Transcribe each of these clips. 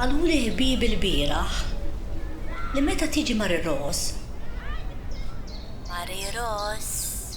Qaluli ħbieb ilbieraħ li meta tiġi Mari Rose. Mari Rose.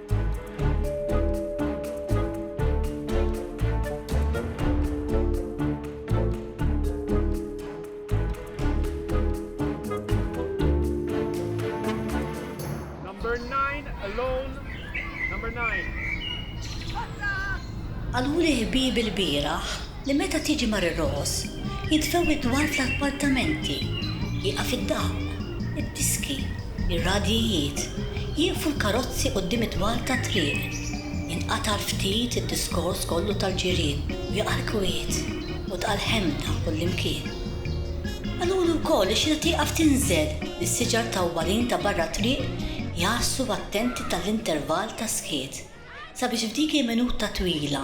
Qaluli ħbieb il-bieraħ li meta tiġi mar ir-roħos jidfew id-dwal tal-appartamenti, jieqaf id-dawl, id-diski, ir-radjijiet, jieqfu l-karozzi quddiem id-dwal tat-triq, jinqata' ftit id-diskors kollu tal-ġirien u jaqa' l-kwiet u tqa' l-ħemda kullimkien. Qaluli wkoll li xi ta' tieqaf tinżel li s-siġar tawwalin ta' barra t-triq jgħassu attenti ta' l-intervall ta' skiet sabiex f'dik il-minuta twila